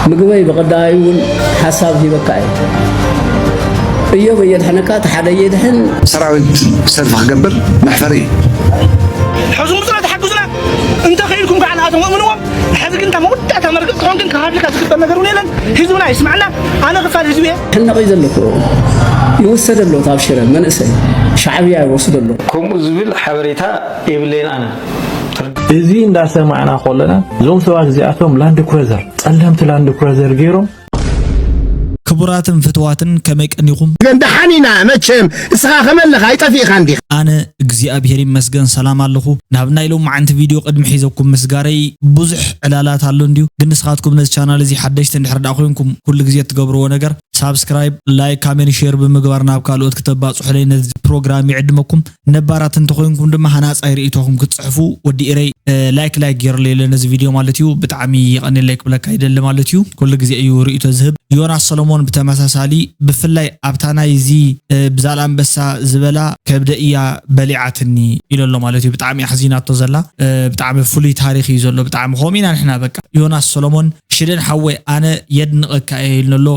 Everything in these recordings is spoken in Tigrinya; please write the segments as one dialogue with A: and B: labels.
A: ምግበይ ብቐዳይ እውን ሓሳብ ሂበካ እየ እዮብ እየድሕነካ እቲ ሓደ እየድሕን ሰራዊት
B: ሰልፊ ክገብር መሕፈሪ እዩ ሕዙ
C: ምፅና ተሓግዙና እንተኽኢልኩም ከዓ ንኣቶም እምንዎም ሕዚ ግን እታ መወዳእታ መርገፅ ትኾን ግን ክሃድልካ ዝግበር ነገር እውን የለን ህዝብና ይስማዕና ኣነ ክፋል ህዝቢ እየ ሕነቐይ ዘለኩ
A: ይውሰደ ኣሎ ኣብ ሽረ መንእሰይ ሻዕብያ ይወስዶ ኣሎ ከምኡ ዝብል
D: ሓበሬታ የብለይን ኣነ እዚ
E: እንዳሰማዕና ኮለና እዞም ሰባት እዚኣቶም ላንድ ክሮዘር ጸለምቲ ላንድ ክሮዘር ገይሮም
F: ክቡራትን ፍትዋትን ከመይ ቀኒኹም። ግን ደሓን ኢና
C: መቸም እስኻ ከመ ኣለኻ ኣይጠፊእኻን ዲኻ። ኣነ እግዚኣብሔር
F: ይመስገን ሰላም ኣለኹ ናብ ናይ ሎምዓንቲ ቪድዮ ቅድሚ ሒዘኩም ምስጋረይ ብዙሕ ዕላላት ኣሎ እንድዩ ግን ንስኻትኩም ነዚ ቻናል እዚ ሓደሽቲ እንድሕር ድኣ ኮይንኩም ኩሉ ግዜ እትገብርዎ ነገር ሳብስክራይብ ላይክ ካሜን ሼር ብምግባር ናብ ካልኦት ክተባጽሑለይ ነዚ ፕሮግራም ይዕድመኩም ነባራት እንተኾይንኩም ድማ ሃናጻይ ርእይቶኹም ክትጽሕፉ ወዲ ኢረይ ላይክ ላይክ ገይረለይ ኣሎ ነዚ ቪድዮ ማለት እዩ ብጣዕሚ የቐኔለይ ክብለካ ይደሊ ማለት እዩ ኩሉ ግዜ እዩ ርእይቶ ዝህብ ዮናስ ሰሎሞን ብተመሳሳሊ ብፍላይ ኣብታ ናይ እዚ ብዛል ኣንበሳ ዝበላ ከብደ እያ በሊዓትኒ ኢሎ ኣሎ ማለት እዩ ብጣዕሚ ኣሕዚናቶ ዘላ ብጣዕሚ ፍሉይ ታሪኽ እዩ ዘሎ ብጣዕሚ ከምኡ ኢና ንሕና በቃ ዮናስ ሰሎሞን ሽደን ሓወይ ኣነ የድንቐካ እየ ኢልኒ ኣሎ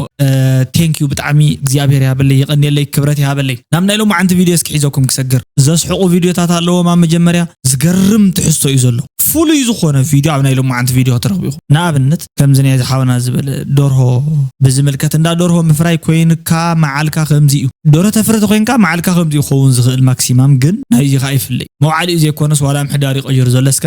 F: ቴንክ ዩ ብጣዕሚ እግዚኣብሔር ይሃበለይ የቐንየለይ ክብረት ይሃበለይ ናብ ናይ ሎማዓንቲ ቪድዮ እስኪ ሒዘኩም ክሰግር ዘስሕቑ ቪድዮታት ኣለዎም ኣብ መጀመርያ ዝገርም ትሕዝቶ እዩ ዘሎ ፍሉይ ዝኾነ ቪድዮ ኣብ ናይ ሎማዓንቲ ቪድዮ ክትረኽቡ ኢኹም ንኣብነት ከምዚ ናይ ዝሓውና ዝበለ ዶርሆ ብዝምልከት እንዳ ዶርሆ ምፍራይ ኮይንካ መዓልካ ከምዚ እዩ ዶርሆ ተፍሪ ተኮይንካ መዓልካ ከምዚ ይኸውን ዝኽእል ማክሲማም ግን ናይዚ ከዓ ይፍለይ መውዓሊኡ ዘይኮነስ ዋላ ምሕዳር ይቐይሩ ዘሎ እስከ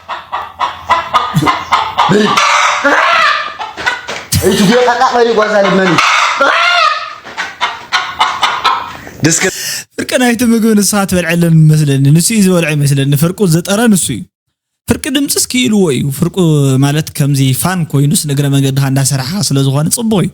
G: ፍርቂ ናይቲ
F: ምግቢ ንስኻ ትበልዐለን መስለኒ ንሱ እዩ ዝበልዖ ይመስለኒ ፍርቁ ዝጠረ ንሱ እዩ ፍርቂ ድምፅስ ክኢልዎ እዩ ፍርቁ ማለት ከምዚ ፋን ኮይኑስ ንእግረ መንገድኻ እንዳሰራሕኻ ስለዝኾነ ፅቡቕ እዩ።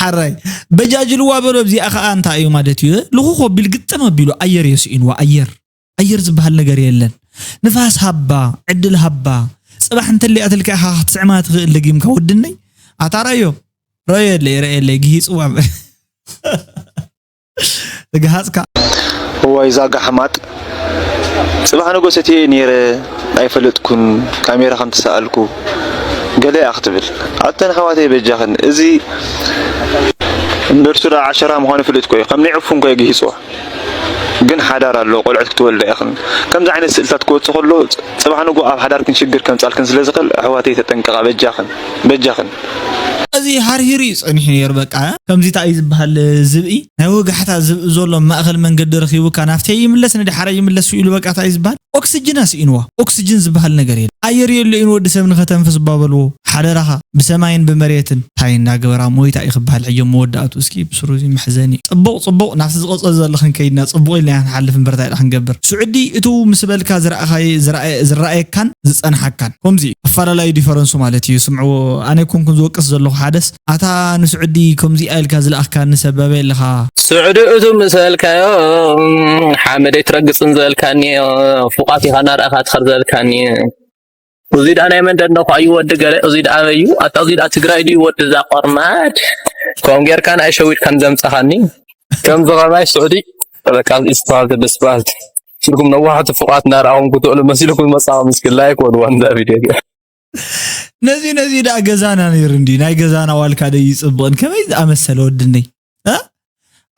F: ሓራይ በጃጅልዋ በሎ እዚኣ ከዓ እንታይ እዩ ማለት እዩ ልኹኽ ኣቢሉ ግጥም ኣቢሉ ኣየር እዮ ስኢንዋ ኣየር ኣየር ዝበሃል ነገር የለን ንፋስ ሃባ ዕድል ሃባ ፅባሕ እንተለያ ትልካ ኢኻ ክትስዕማ ትኽእል ደጊምካ ወድነይ ኣታ ረዮ ረዮ የለይ ረዮ የለይ ግሂፅዋ እግሃጽካ እዋይ
E: እዛ ጋሕማጥ ጽባሕ ንጎስ እትየ ኔረ ኣይፈለጥኩን ካሜራ ከም ተሳኣልኩ ገለ እያ ክትብል ኣተን ኣሕዋተይ በጃኽን እዚ እንደርሱ ደኣ ዓሸራ ምዃኑ ይፍልጥ እኮ እዩ ከም ናይ ዕፉን እኮ የግሂጽዎ ግን ሓዳር ኣሎ ቆልዑት ክትወልዳ ኢኽን ከምዚ ዓይነት ስእልታት ክወጽእ ከሎ ጽባሕ ንጎ ኣብ ሓዳርክን ሽግር ከምጻልክን ስለ ዝኽእል ኣሕዋተይ ተጠንቀቓ በጃኽን በጃኽን እዚ ሃርሂሩ እዩ ጸኒሑ ነይሩ በቃ ከምዚ ታይ እዩ ዝበሃል ዝብኢ ናይ ወጋሕታ ዝብኢ ዘሎ ኣብ ማእከል መንገዲ ረኺቡካ ናፍተይ ይምለስ ንዳሓረይ ይምለስ ኢሉ በቃ ታይ እዩ ዝበሃል ኦክስጅን ኣስኢንዋ ኦክስጅን ዝበሃል ነገር የለን ኣየር የሎ'ዩ ንወዲሰብ ንኸተንፍስ እባ በልዎ ሓደራኻ ብሰማይን ብመሬትን ታይ እንዳገበራ ሞይታ እዩ ክበሃል ሕጂ ኣብ መወዳእትኡ እስኪ ብስሩ እዚ መሕዘኒ እዩ ጽቡቕ ጽቡቕ ናብቲ ዝቕጽል ዘሎ ክንከይድ ኢና ጽቡቕ ኢልና ኢና ክንሓልፍ እምበር ታይ ድኣ ክንገብር ስዑዲ እትው ምስ በልካ ዝረኣኻዬ ዝረኣየካን ዝጸንሓካን ኮምዚ እዩ ኣፋላላዩ ዲፈረንሱ ማለት እዩ ስምዕዎ ኣነ ኣይኮንኩን ዝወቅስ ዘለኩ ሓደስ ኣታ ንሱዕዲ ኮምዚኣ ኢልካ ዝለኣክካኒ ሰብ ኣበይ ኣለካ። ሱዕዲ እቱ
H: ምስ በልካዮ ሓመድ ኣይትረግፅን ዝበልካኒ ፉቃት ኢካ እናረኣካ ትከድ ዝበልካኒ። እዙይ ድኣ ናይ መን ደንደኳ እዩ ወዲ ገለ እዙይ ድኣ ኣበይ እዩ ኣታ እዙይ ድኣ ትግራይ ድዩ ወዲ እዛ ቆርማድ ከምኡ ጌርካ ንኣይ ሸዊድካኒ ዘምፃኻኒ ከምዚ ከማይ ሱዕዲ በቃ እዚእዩ ዝበሃል ዘሎ ስብኣልት ሲልኩም ነዋሕቲ ፍቋት እናረኣኹም ክትውዕሉ መሲልኩም ዝመጻኹም እስኪ ላይክ ወድዋን እዛ ቪድዮ እዚኣ
F: ነዚ ነዚ ደኣ ገዛና ነይሩ እንዲ ናይ ገዛና ዋልካ ደ ይፅብቕን ከመይ ዝኣመሰለ ወድነይ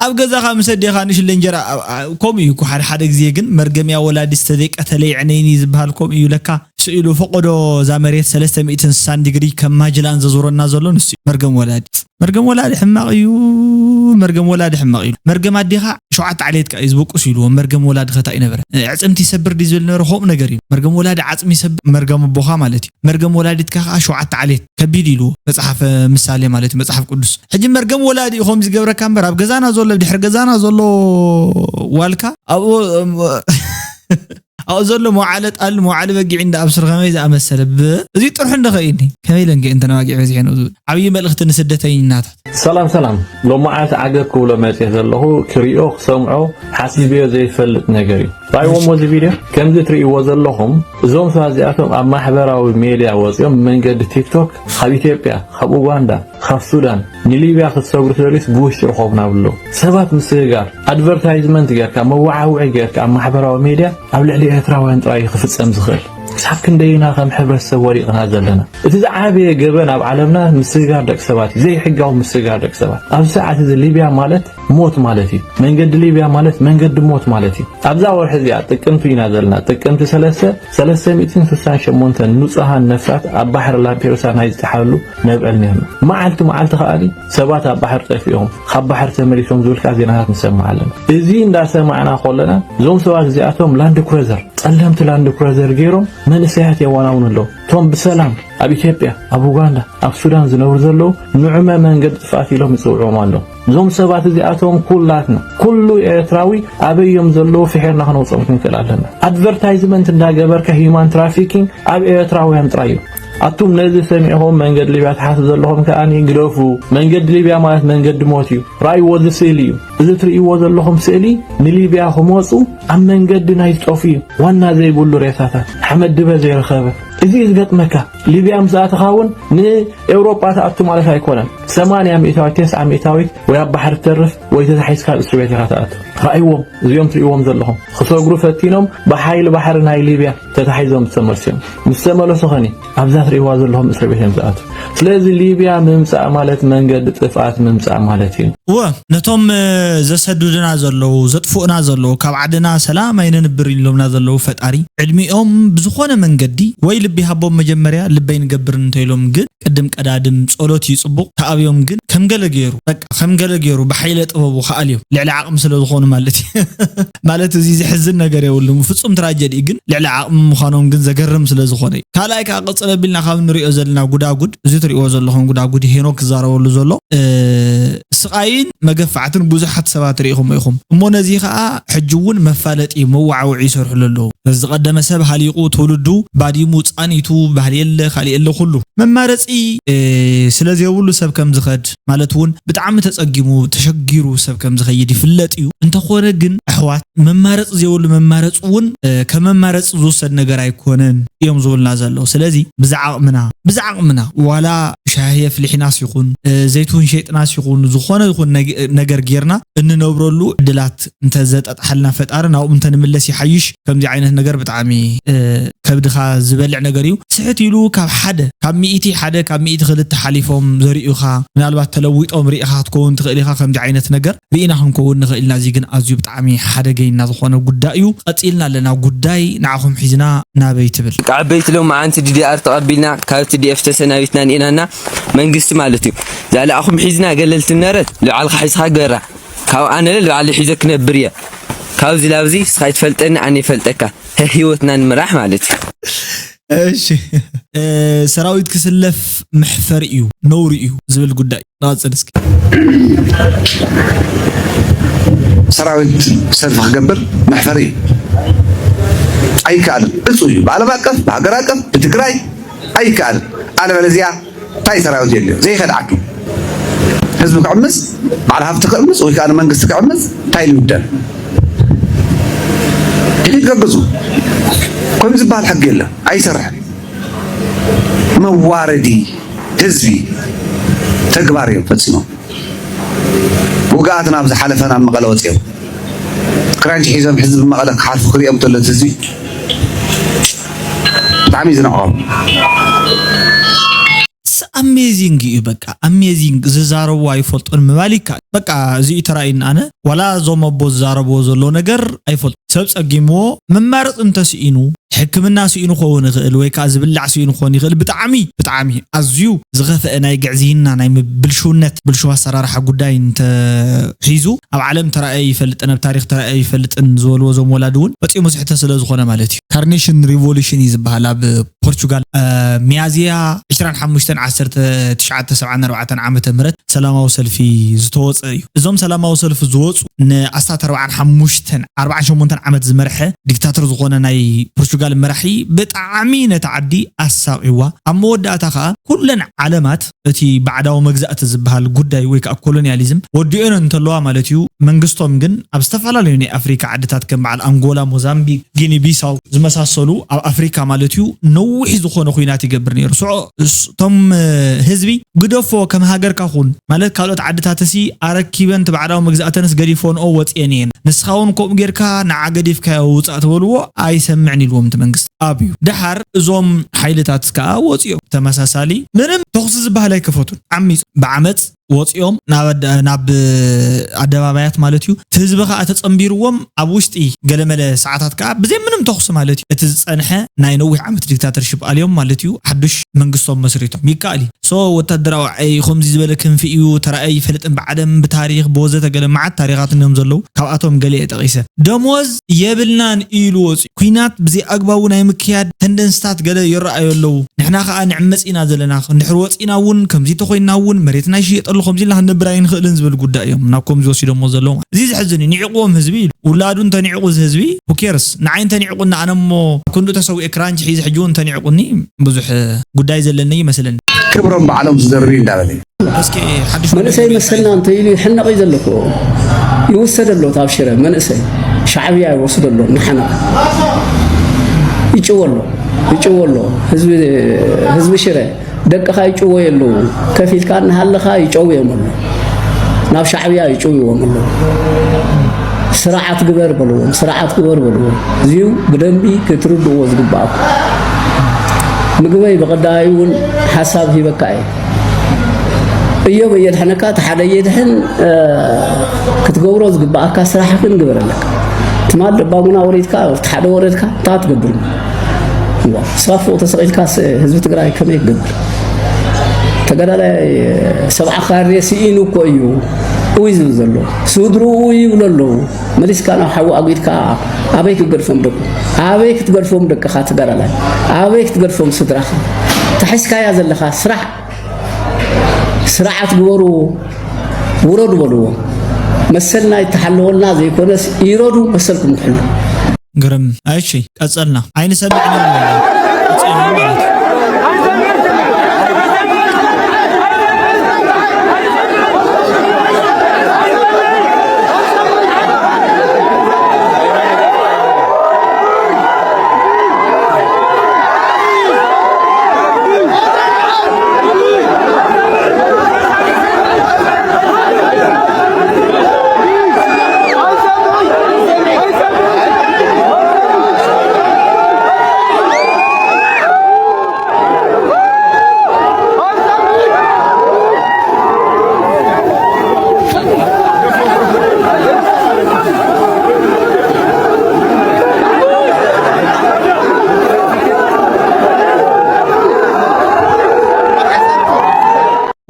F: ኣብ ገዛኻ ምስ ኣዴኻ ንሽለ እንጀራ ከምኡ እዩ እኮ ሓደ ሓደ ግዜ ግን መርገምያ ወላዲ ዝተዘይቀተለ ይዕነይኒ ዝበሃል ከምኡ እዩ ለካ ስኢሉ ፈቆዶ እዛ መሬት ሰለስተ ሚእትን ስሳን ዲግሪ ከም ማጅላን ዘዙረና ዘሎ ንሱ እዩ መርገም ወላዲ መርገም ወላዲ ሕማቅ እዩ መርገም ወላዲ ሕማቅ ኢሉ መርገም ኣዴካ ሸውዓተ ዓሌት ከኣ እዩ ዝበቁስ ኢልዎ መርገም ወላዲ ከታ እዩ ነበረ ዕጽምቲ ይሰብር ድዩ ዝብል ነበረ ከምኡ ነገር እዩ መርገም ወላዲ ዓጽሚ ይሰብር መርገም ኣቦካ ማለት እዩ መርገም ወላዲትካ ከኣ ሸውዓተ ዓሌት ከቢድ ኢልዎ መጽሓፈ ምሳሌ ማለት እዩ መጽሓፍ ቅዱስ ሕጂ መርገም ወላዲ እዩ ከምዚ ገብረካ እምበር ኣብ ገዛና ዘሎ ድሕሪ ገዛና ዘሎ ዋልካ ኣብኡ ኣብኡ ዘሎ መውዓለ ጣልን መውዓለ በጊዕን ደኣ ብስሩ ከመይ ዝኣመሰለ ብ እዚ ጥርሑ እንዶ ከይድኒ ከመይ ኢለን ከ እንተን ኣባጊዕ በዚሐን ዝብል ዓብዪ መልእኽቲ ንስደተይናታት። ሰላም ሰላም
I: ሎማዓንቲ ዓገብ ክብሎ መጼ ዘለኹ ክሪኦ ክሰምዖ ሓሲቤዮ ዘይፈልጥ ነገር እዩ ራይዎሞ እዚ ቪድዮ ከምዚ ትሪኢዎ ዘለኹም እዞም ሰባት እዚኣቶም ኣብ ማሕበራዊ ሜድያ ወጺኦም ብመንገዲ ቲክቶክ ካብ ኢትዮጵያ ካብ ኡጋንዳ ካብ ሱዳን ንሊብያ ክትሰግሩ ትደልዩስ ብውሽጢ ርኸቡና ኣብሉ ሰባት ምስግጋር ኣድቨርታይዝመንት ጌርካ መወዓውዒ ጌርካ ኣብ ማሕበራዊ ሜድያ ኣብ ልዕሊ ኤርትራውያን ጥራይ እዩ ክፍጸም ዝኽእል ክሳብ ክንደይ ኢና ከም ሕብረተሰብ ወዲቕና ዘለና እቲ ዝዓበየ ገበን ኣብ ዓለምና ምስግጋር ደቂ ሰባት እዩ ዘይሕጋዊ ምስግጋር ደቂ ሰባት ኣብዚ ሰዓት እዚ ሊብያ ማለት ሞት ማለት እዩ። መንገዲ ሊብያ ማለት መንገዲ ሞት ማለት እዩ። ኣብዛ ወርሒ እዚኣ ጥቅምቲ ኢና ዘለና ጥቅምቲ 3 368 ንጹሃን ነፍሳት ኣብ ባሕሪ ላምፔዱሳ ናይ ዝጠሓሉ ነብዕል ነርና። መዓልቲ መዓልቲ ከኣ ሰባት ኣብ ባሕሪ ጠፊኦም ካብ ባሕሪ ተመሊሶም ዝብልካ ዜናታት ንሰምዕ ኣለና። እዚ እንዳሰማዕና ከለና እዞም ሰባት እዚኣቶም ላንድ ክሩዘር ጸለምቲ ላንድ ክሩዘር ገይሮም መንእሰያት የዋናውኑ ኣለዉ። እቶም ብሰላም ኣብ ኢትዮጵያ ኣብ ኡጋንዳ ኣብ ሱዳን ዝነብሩ ዘለዉ ንዑመ መንገዲ ጥፍኣት ኢሎም ይጽውዕዎም ኣለዉ። እዞም ሰባት እዚኣቶም ኩላትና ኩሉ ኤርትራዊ ኣበይ እዮም ዘለዉ ፍሒርና ክነውፅኦም ክንክእል ኣለና። ኣድቨርታይዝመንት እንዳገበርካ ሂዩማን ትራፊኪንግ ኣብ ኤርትራውያን ጥራይ እዩ። ኣቱም ነዚ ሰሚዕኹም መንገዲ ሊብያ ትሓስቡ ዘለኹም ከኣ ግደፉ። መንገዲ ሊብያ ማለት መንገዲ ሞት እዩ። ራእይዎ እዚ ስእሊ እዩ። እዚ ትርእይዎ ዘለኹም ስእሊ ንሊብያ ክመፁ ኣብ መንገዲ ናይ ዝጠፉ እዩ። ዋና ዘይብሉ ሬሳታት ሓመድ ድበ ዘይረኸበ እዚ እዩ ዝገጥመካ። ሊብያ ምስ ኣተኻ እውን ንኤውሮጳ ትኣቱ ማለት ኣይኮነን። ሰማንያ ሚእታዊት ቴስዓ ሚእታዊት ወይ ኣብ ባሕሪ ትተርፍ ወይ ተታሒዝካ ኣብ እስሪ ቤት ኢኻ ትኣቱ። ርኣይዎም እዚኦም ትርእይዎም ዘለኹም ክሰግሩ ፈቲኖም ብሓይሊ ባሕሪ ናይ ሊብያ ተታሒዞም ዝተመልሱ እዮም። ምስ ተመለሱ ኸኒ ኣብዛ ትርእይዋ ዘለኹም እስሪ ቤት እዮም ዝኣቱ። ስለዚ ሊብያ ምምጻእ ማለት መንገዲ ጥፍኣት ምምጻእ ማለት እዩ። እወ ነቶም
F: ዘሰዱድና ዘለዉ ዘጥፍኡና ዘለዉ ካብ ዓድና ሰላም ኣይነንብርን ኢሎምና ዘለዉ ፈጣሪ ዕድሚኦም ብዝኾነ መንገዲ ወይ ልቢ ይሃቦም መጀመርያ ልቢ ኣይንገብርን እንተኢሎም ግን ቅድም ቀዳድም ጸሎት እዩ ጽቡቅ ተኣብዮም ግን ከም ገለ ጌሩ በቃ ከም ገለ ጌሩ ብሓይለ ጥበቡ ክኣልዮም ልዕሊ ዓቅሚ ስለ ዝኮኑ ማለት እዩ ማለት እዚ ዝሕዝን ነገር የብሉን ፍጹም ትራጀዲ እዩ ግን ልዕሊ ዓቅሚ ምኳኖም ግን ዘገርም ስለ ዝኮነ እዩ ካልኣይ ከኣ ቅጽል ኣቢልና ካብ ንሪኦ ዘለና ጉዳጉድ እዚ ትሪእዎ ዘለኩም ጉዳጉድ ሄኖክ ክዛረበሉ ዘሎ ስቃይን መገፋዕትን ብዙሓት ሰባት ሪኢኩሞ ኢኩም እሞ ነዚ ከኣ ሕጂ ውን መፋለጢ መዋዓውዒ ይሰርሕሉ ኣለዉ ዝቀደመ ሰብ ሃሊቁ ትውልዱ ባዲሙ ጻኒቱ ባህሊ የለ ካሊእ የለ ኩሉ መማረጺ ስለ ዘይብሉ ሰብ ከም ዝከድ ማለት ውን ብጣዕሚ ተጸጊሙ ተሸጊሩ ሰብ ከም ዝከይድ ይፍለጥ ዩ እንተ ኮነ ግን ኣሕዋት መማረጺ ዘይብሉ መማረጺ ውን ከም መማረጺ ዝውሰድ ነገር ኣይኮነን እዮም ዝብሉና ዘለዉ ስለዚ ብዝዓቅምና ብዝዓቅምና ዋላ ሻሂ ኣፍሊሒናስ ይኩን ዘይትውን ሸይጥናስ ይኩን ዝኮነ ይኩን ነገር ገይርና እንነብረሉ ዕድላት እንተ ዘጣጥሓልና ፈጣሪ ናብኡ እንተ ንምለስ ይሓይሽ ከምዚ ዓይነት ነገር ብጣዕሚ ከብድኻ ዝበልዕ ነገር እዩ ስሕት ኢሉ ካብ ሓደ ካብ ሚእቲ ሓደ ካብ ሚእቲ ክልተ ሓሊፎም ዘርእዩኻ ምናልባት ተለዊጦም ሪኢኻ ክትከውን ትኽእል ኢኻ ከምዚ ዓይነት ነገር ርኢና ክንከውን ንኽእል ኢና እዚ ግን ኣዝዩ ብጣዕሚ ሓደገይና ዝኾነ ጉዳይ እዩ ቀጺልና ኣለና ጉዳይ ንዓኹም ሒዝና ናበይ ትብል። ደቂ ዓበይቲ ሎምዓንቲ
J: ዲዲኣር ተቐቢልና ካብ ትዲኤፍ ተሰናቢትና ኒኢናና መንግስቲ ማለት እዩ ዛላኣኹም ሒዝና ገለልቲ ምነረት ልባዕልኻ ሒዝኻ ግበራ ካብ ኣነለ ልባዕለይ ሒዘ ክነብር እየ ካብዚ ላብዚ ንስኻ ኣይትፈልጠኒ ኣነ ይፈልጠካ ህህ ሂወትና ንምራሕ ማለት እዩ።
F: እሺ ሰራዊት ክስለፍ መሕፈሪ እዩ ነውሪ እዩ ዝብል ጉዳይ ንቐፅል እስኪ። ሰራዊት ሰልፊ
B: ክገብር መሕፈሪ እዩ ኣይከኣልን እፁ እዩ ብዓለም ኣቀፍ ብሃገር ኣቀፍ ብትግራይ ኣይከኣልን ኣለበለዚያ ታይ ሰራዊት የድልዮ ዘይከድዓኪ ህዝቢ ክዕምፅ በዓል ሃፍቲ ክዕምፅ ወይ ከዓ መንግስቲ ክዕምፅ ታይ ልውደን ሕጂ ትገብዙ ከምዚ ዝበሃል ሕጊ የለን ኣይሰርሕን መዋረዲ ህዝቢ ተግባር እዮም ፈፂሞም ውግኣት ናብ ዝሓለፈ ናብ መቐለ ወጺኦም ክራንች ሒዞም ሕዚ ብመቐለ ክሓልፉ ክሪኦም ተሎ እቲ ህዝቢ ብጣዕሚ እዩ ዝንዕቆም።
F: ኣሜዚንግ እዩ በቃ ኣሜዚንግ ዝዛረቡ ኣይፈልጡን ምባል ይከኣል በቃ እዚ እዩ ተራእዩኒ ኣነ ዋላ እዞም ኣቦ ዝዛረብዎ ዘለው ነገር ኣይፈልጡን ሰብ ጸጊምዎ መማረጺ እንተ ስኢኑ ሕክምና ስኢኑ ክኸውን ይኽእል ወይ ከኣ ዝብላዕ ስኢኑ ክኾን ይኽእል ብጣዕሚ ብጣዕሚ ኣዝዩ ዝኸፈኣ ናይ ግዕዝይና ናይ ብልሽውነት ብልሽው ኣሰራርሓ ጉዳይ እንተ ሒዙ ኣብ ዓለም ተራእዮ ኣይፈልጥን ኣብ ታሪኽ ተራእዮ ኣይፈልጥን ዝበልዎ እዞም ወላዲ እውን ፈጺሙ ስሕተት ስለ ዝኾነ ማለት እዩ ካርኔሽን ሪቮሉሽን እዩ ዝበሃል ኣብ ፖርቹጋል፣ ሚያዝያ ዕስራን ሓሙሽተን ዓሰርተ ትሽዓተ ሰብዓን ኣርባዕተን ዓመተ ምህረት ሰላማዊ ሰልፊ ዝተወፀ እዩ። እዞም ሰላማዊ ሰልፊ ዝወፁ ንኣስታት ኣርባዓን ሓሙሽተን፣ ኣርባዓን ሸሞንተን ዓመት ዝመርሐ ዲክታተር ዝኾነ ናይ ፖርቹጋል መራሒ ብጣዕሚ ነታ ዓዲ ኣሳቒዋ። ኣብ መወዳእታ ከዓ ኩለን ዓለማት እቲ ባዕዳዊ መግዛእቲ ዝበሃል ጉዳይ ወይ ከኣ ኮሎንያሊዝም ወዲኦን እንተለዋ ማለት እዩ። መንግስቶም ግን ኣብ ዝተፈላለዩ ናይ ኣፍሪካ ዓድታት ከም በዓል ኣንጎላ፣ ሞዛምቢክ፣ ጊኒ ቢሳው ዝመሳሰሉ ኣብ ኣፍሪካ ማለት እዩ ነዊሕ ዝኾነ ኹናት ይገብር ነይሩ። ስዖ እቶም ህዝቢ ግደፎ ከም ሃገርካ ኹን ማለት ካልኦት ዓድታትሲ ኣረኪበን እቲ ባዕዳዊ መግዛእተንስ ገዲፎንኦ ወጺኤን እየን ንስኻ ውን ከምኡ ጌርካ ንዓ ገዲፍካዮ ውጻእ ተበልዎ ኣይሰምዕን ኢልዎም እቲ መንግስቲ። ኣብዩ። ደሓር እዞም ሓይልታት ከኣ ወጺኦም ብተመሳሳሊ ምንም ተኹሲ ዝበሃል ኣይከፈቱን። ዓሚጾም ብዓመጽ ወጺኦም ናብ ኣደባባያት ማለትዩ። እቲ ህዝቢ ከኣ ተጸንቢሩዎም ኣብ ውሽጢ ገለመለ ሰዓታት ከኣ ብዘይ ምንም ተኹሲ ማለትዩ እቲ ዝጸንሐ ናይ ነዊሕ ዓመት ዲክታተርሺፕ ኣልዮም ማለትዩ ሓዱሽ መንግስቶም መስሪቶም። ይከኣልዩ። So ወታደራዊ ዓይ ከምዚ ዝበለ ክንፊ እዩ ተራእዩ ኣይፈልጥን ብዓለም ብታሪኽ ብወዘተ ገለ መዓት ታሪኻት እንዮም ዘለዉ ካብኣቶም ገሊኤ ጠቒሰ። ደሞዝ የብልናን ኢሉ ወጺኡ። ኩናት ብዘይኣግባቡ ናይ ምክያድ ተንደንስታት ገለ ይረኣዩ ኣለዉ። ንሕና ከኣ ንዕመጽ ኢና ዘለና። እንድሕር ወጺእና እውን፣ ከምዚ እንተኾይንና እውን፣ መሬትና ይሽየጥ ኣሎ፣ ከምዚ ኢልና ክንነብር ኣይንኽእልን ዝብል ጉዳይ እዮም ናብ ከምዚ ወሲዶሞ ዘለዉ ማለት። እዚ ዘሕዝን እዩ። ንዒቕዎም ህዝቢ ኢሉ። ውላዱ እንተንዒቑ እዚ ህዝቢ፣ who cares? ንዓይ እንተንዒቑኒ ኣነ እሞ ኣብ ክንድኡ ተሰዊኤ ክራንች ሒዘ ሕጂ እውን እንተንዒቑኒ ብዙሕ ጉዳይ ዘለኒ ኣይመስለንን። ክብሮም ባዕሎም
B: ዝደርብዩ እንዳበለ እዩ።
F: መንእሰይ መሰልና
A: እንተኢሉ ይሕነቕ እዩ ዘለኩ ይውሰደ ኣሎ ኣብ ሽረ መንእሰይ ሻዕብያ ይወስዶ ኣሎ ንሓነቕ ይጭወ ኣሎ ይጭወ ኣሎ ህዝቢ ሽረ ደቅኻ ይጭወ የለዉ ከፍ ኢልካ እናሃለኻ ይጨው እዮም ኣሎ ናብ ሻዕብያ ይጭውዎም ኣሎ ስርዓት ግበር በልዎም ስርዓት ግበር በልዎም እዚዩ ብደንቢ ክትርድዎ ዝግባኣኩ ምግበይ ብቐዳዩ እውን ሓሳብ ሂበካ እየ እዮብ እየድሕነካ እቲ ሓደ እየድሕን ክትገብሮ ዝግብኣካ ስራሕ ግን ግበር ኣለካ ትማል ደባሙና ወሪድካ እቲ ሓደ ወረድካ እንታ ትገብር ስራፎ ተሰቂልካ ህዝቢ ትግራይ ከመይ ክገብር ተጋዳላይ ሰብዓ ካሬ ስኢኑ እኮ እዩ እይ ዝብል ዘሎ ስድርኡ ይብሉ ኣለዉ መሊስካ ናብ ሓዊ ኣጒድካ ኣበይ ክገድፎም ደቁ ኣበይ ክትገድፎም ደቅኻ ትገራላይ ኣበይ ክትገድፎም ስድራኻ ተሒዝካያ ዘለኻ ስራሕ ስርዓት ግበሩ ውረዱ በልዎ መሰልና ይተሓለወልና ዘይኮነስ ይረዱ መሰልኩም ትሕሉ ግርም
F: እሺ ቀጸልና ኣይንሰምዕን ኢና ንብሎም ቁጽዮን ማለት እዩ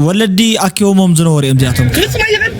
F: ወለዲ ኣኪቦሞም ዝነበሩ እዮም እዚኣቶም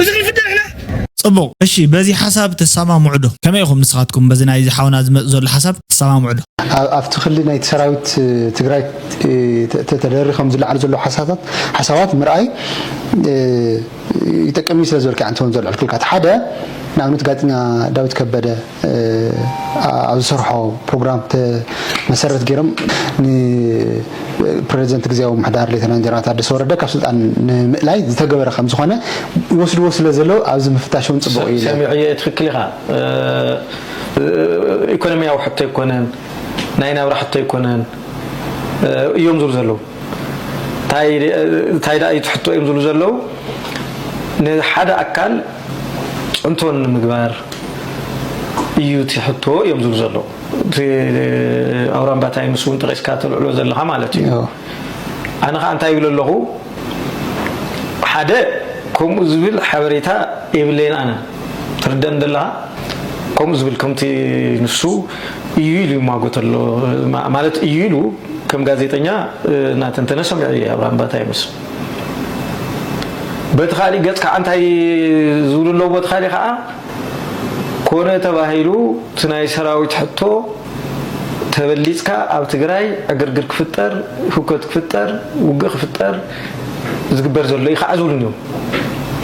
C: እዚ ክንፍትሕ ንሕና ጽቡቅ እሺ
F: በዚ ሓሳብ ትሳማምዑ ዶ ከመይ ኢኩም ንስካትኩም በዚ ናይዚ ሓውና ዝመጽ ዘሎ ሓሳብ ትሳማምዑ ዶ። ኣብቲ ክሊ ናይቲ
K: ሰራዊት ትግራይ ተደሪኾም ዝለዓሉ ዘለዉ ሓሳባት ምርኣይ ይጠቅም እዩ ስለ ዝበልካ እየ ኣንተ ውን ዘልዐልኩልካ እቲ ሓደ ንኣብነት ጋዜጠኛ ዳዊት ከበደ ኣብ ዝሰርሖ ፕሮግራም መሰረት ገይሮም ንፕረዚደንት ግዝያዊ ምሕዳር ሌተናን ጀነራል ታደሰ ወረደ ካብ ስልጣን ንምእላይ ዝተገበረ ከም ዝኾነ ይወስድዎ ስለ ዘለዉ ኣብዚ ምፍታሽ እውን ፅቡቕ እዩ ሰሚዐዮ እየ ትክክል ኢኻ
D: ኢኮኖሚያዊ ሕቶ ኣይኮነን ናይ ናብራ ሕቶ ኣይኮነን እዮም ዝብሉ ዘለዉ እንታይ ደኣ እዩ እቲ ሕቶ እዮም ዝብሉ ዘለዉ ንሓደ ኣካል ፅንቶ ንምግባር እዩ እቲ ሕቶ እዮም ዝብሉ ዘለዉ እቲ ኣውራምባ ታይምስ እውን ጠቂስካ ተልዕሎ ዘለካ ማለት እዩ ኣነ ከዓ እንታይ ይብለ ኣለኹ ሓደ ከምኡ ዝብል ሓበሬታ የብለይን ኣነ ትርደን ዘለካ ከምኡ ዝብል ከምቲ ንሱ እዩ ኢሉ ይሟጎት ኣሎ ማለት እዩ ኢሉ ከም ጋዜጠኛ እናተንተነ ሰሚዑ እየ ኣብራምባ ታይምስ በቲ ካሊእ ገፅ ከዓ እንታይ ዝብሉ ኣለዉ በቲ ካሊእ ከዓ ኮነ ተባሂሉ እቲ ናይ ሰራዊት ሕቶ ተበሊፅካ ኣብ ትግራይ ዕግርግር ክፍጠር ህውከት ክፍጠር ውግእ ክፍጠር ዝግበር ዘሎ እዩ ከዓ ዝብሉን እዮም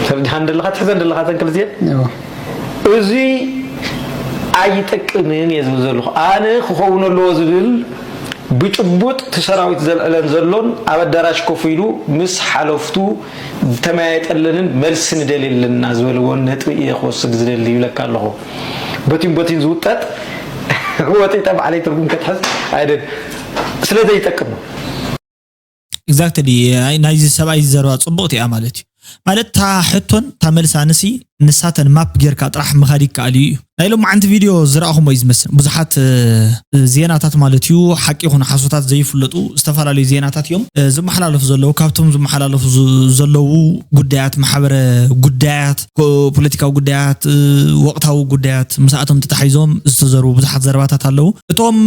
D: ተረዲኻን ደለኻ ትሕዘን ደለኻ ዘን ክልቲኤን እዚ ኣይጠቅምን እየ ዝብል ዘለኹ ኣነ ክኸውን ኣለዎ ዝብል ብጭቡጥ እቲ ሰራዊት ዘልዕለን ዘሎን ኣብ ኣዳራሽ ኮፍ ኢሉ ምስ ሓለፍቱ ዝተመያየጠለንን መልሲ ንደልየለንና ዝበልዎን ነጥቢ እየ ክወስድ ዝደሊ ይብለካ ኣለኹ። በቲን በቲን ዝውጠጥ ወጢጠ ባዕለይ ትርጉም ከትሕዝ ኣይደልን። ስለዘይጠቅም።
F: ኤግዛክትሊ ናይዚ ሰብኣይ ዘረባ ጽቡቕቲ እያ ማለት እዩ ማለት እታ ሕቶን እታ መልሳንሲ ንሳተን ማፕ ጌርካ ጥራሕ ምኻድ ይከኣል እዩ ናይ ሎማዓንቲ ቪድዮ ዝረኣኹሞ እዩ ዝመስል ብዙሓት ዜናታት ማለት እዩ ሓቂ ይኹን ሓሶታት ዘይፍለጡ ዝተፈላለዩ ዜናታት እዮም ዝመሓላለፉ ዘለዉ ካብቶም ዝመሓላለፉ ዘለዉ ጉዳያት ማሕበረ ጉዳያት ፖለቲካዊ ጉዳያት፣ ወቕታዊ ጉዳያት፣ ምስኣቶም ተታሒዞም ዝተዘርቡ ብዙሓት ዘረባታት ኣለዉ። እቶም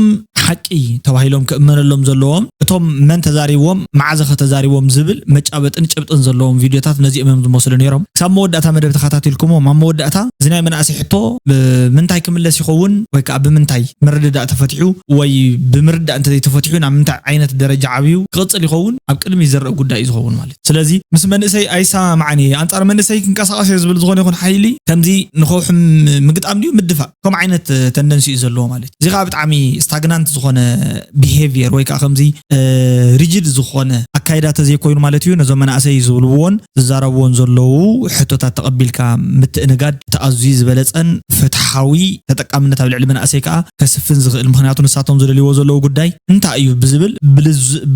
F: ሓቂ ተባሂሎም ክእመነሎም ዘለዎም፣ እቶም መን ተዛሪብዎም፣ መዓዘኸ ተዛሪብዎም ዝብል መጫበጥን ጭብጥን ዘለዎም ቪድዮታት ነዚኦም እዮም ዝመስሉ ነይሮም። ክሳብ መወዳእታ መደብ ተኸታቲልኩምዎም፣ ኣብ መወዳእታ እዚ ናይ መናእሰይ ሕቶ ብምንታይ ክምለስ ይኸውን ወይ ከኣ ብምንታይ ምርድዳእ ተፈቲሑ ወይ ብምርዳእ እንተዘይተፈቲሑ ናብ ምንታይ ዓይነት ደረጃ ዓብዩ ክቕጽል ይኸውን ኣብ ቅድሚት ዝረኣ ጉዳይ እዩ ዝኸውን ማለት እዩ። ስለዚ ምስ መንእሰይ ኣይሰማማዕን እየ፣ ኣንጻር መንእሰይ ክንቀሳቐስ እየ ዝብል ዝኾነ ይኹን ሓይሊ ከምዚ ንከውሒ ምግጣም ድዩ ምድፋእ ከምኡ ዓይነት ተንደንሲ እዩ ዘለዎ ማለት እዩ። እዚ ከኣ ብጣዕሚ ስታግናንት ዝኾነ ቢሄቪየር ወይ ከኣ ከምዚ ሪጂድ ዝኾነ ኣካይዳ ተዘይኮይኑ ማለት እዩ ነዞም መናእሰይ ዝብልዎን ዝዛረብዎን ዘለዉ ሕቶታት ተቐቢልካ ምትእንጋድ እቲ ኣዝዩ ዝበለጸን ፍትሓዊ ተጠቃምነት ኣብ ልዕሊ መናእሰይ ከኣ ከስፍን ዝኽእል ምኽንያቱ ንሳቶም ዝደልይዎ ዘለዉ ጉዳይ እንታይ እዩ ብዝብል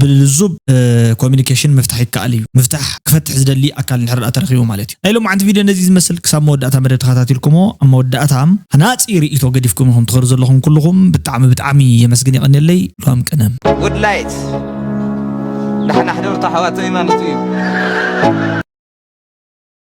F: ብልዙብ ኮሚኒኬሽን ምፍታሕ ይከኣል እዩ። ምፍታሕ ክፈትሕ ዝደሊ ኣካል እንድሕርድኣ ተረኺቡ ማለት እዩ። ናይ ሎምዓንቲ ቪድዮ ነዚ ዝመስል ክሳብ መወዳእታ መደብ ተኸታቲልኩሞ ኣብ መወዳእታ ሃናጺ ርእይቶ ገዲፍኩም ኢኹም ትኸዱ ዘለኹም ኩሉኹም ብጣዕሚ ብጣዕሚ የመስግን የቐንየለይ ሉዋም ቅነ። Good light
J: ዳሕና ሕደሩ ኣሕዋተይ ማለቱ እዩ።